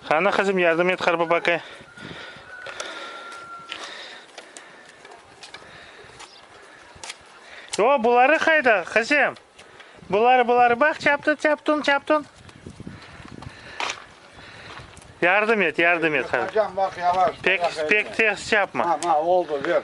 Qani, qızım, yardım et Qarbabaqqa. O, buları qayda, qızım? Buları, buları, baq, çaptın, çaptın, çaptın. Yardım et, yardım et. Hocam bak yavaş. Pek, pek ters yapma. Ha, ha, oldu ver.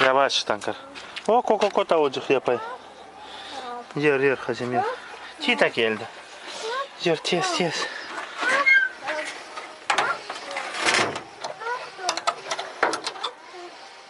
Yavaştan kır. O, ko, ko, ko, tavucıq yapay. Yer, yer, Hazim, yer. Tita keldi. Yer, tez, tez.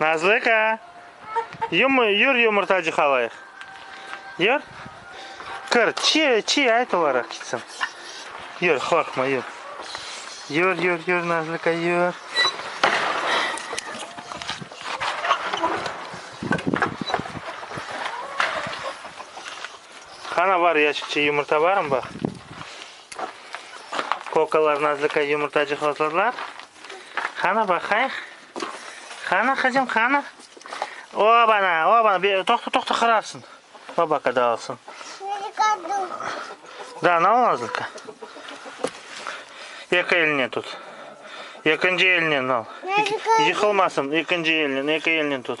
Nazlıka! Yum, yur yumurtacı halayıq. Yur. Kır, çi, çi, ayt olara kitsin. Yur, qorqma, yur. Yur, yur, yur, Nazlıka, yur. Ana var, yaşıkçı yumurta barım, bak. Kokalar, nazlıkay, yumurtacı hozırlar. Qana baqayıq. Qana, qızım, qana. Obana, obana. Bir, toqta, toqta, qırarsın. Baba kada alsın. Da, ne ol nazlıka? Eki eline tut. Ekinci eline al. Yıkılmasın. Ekinci eline, eki eline tut.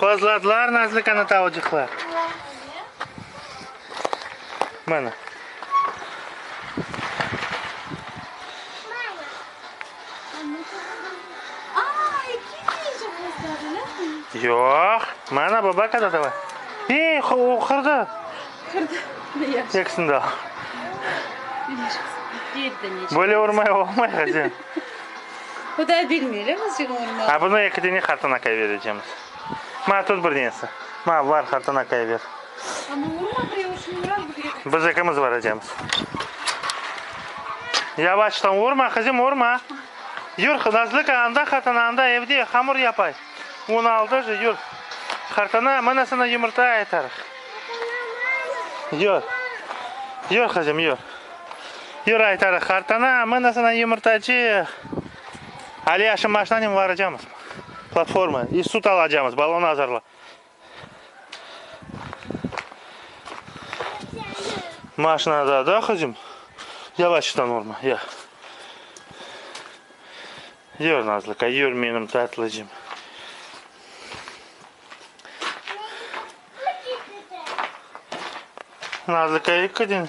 Qozladılar nazlı qanatavcıqlar. Mana. Yoq. Mana baba qanatava. Ey, o qırdı. Qırdı. Eksin de al. Böyle urmay olmay, Hazen. Bu da bilmeylim özüm olmaz. A bunı eki dene qartana kayberecemiz. Ma tut bir denesi. Ma var qartana kayber. Ama olmaz ya uçun biraz bir yere. Biz ekimiz varacamız. Yavaştan vurma kızım vurma. Yur Nazlıka anda qartana anda evde hamur yapay. Un aldı jı yur. Qartana mana sana yumurta aytarıq. Yur. Yur kızım yur. Yürü, aytarıq, qartana, mına sana yumurtacı, alâ şu maşinanen varacamız platforma i sut alacamız, balon azırla. Maşinada da qızım, yavaştan vurma, ya. Yür, Nazlıka, yür, menim tatlıcım. Nazlıka, yıkıdın.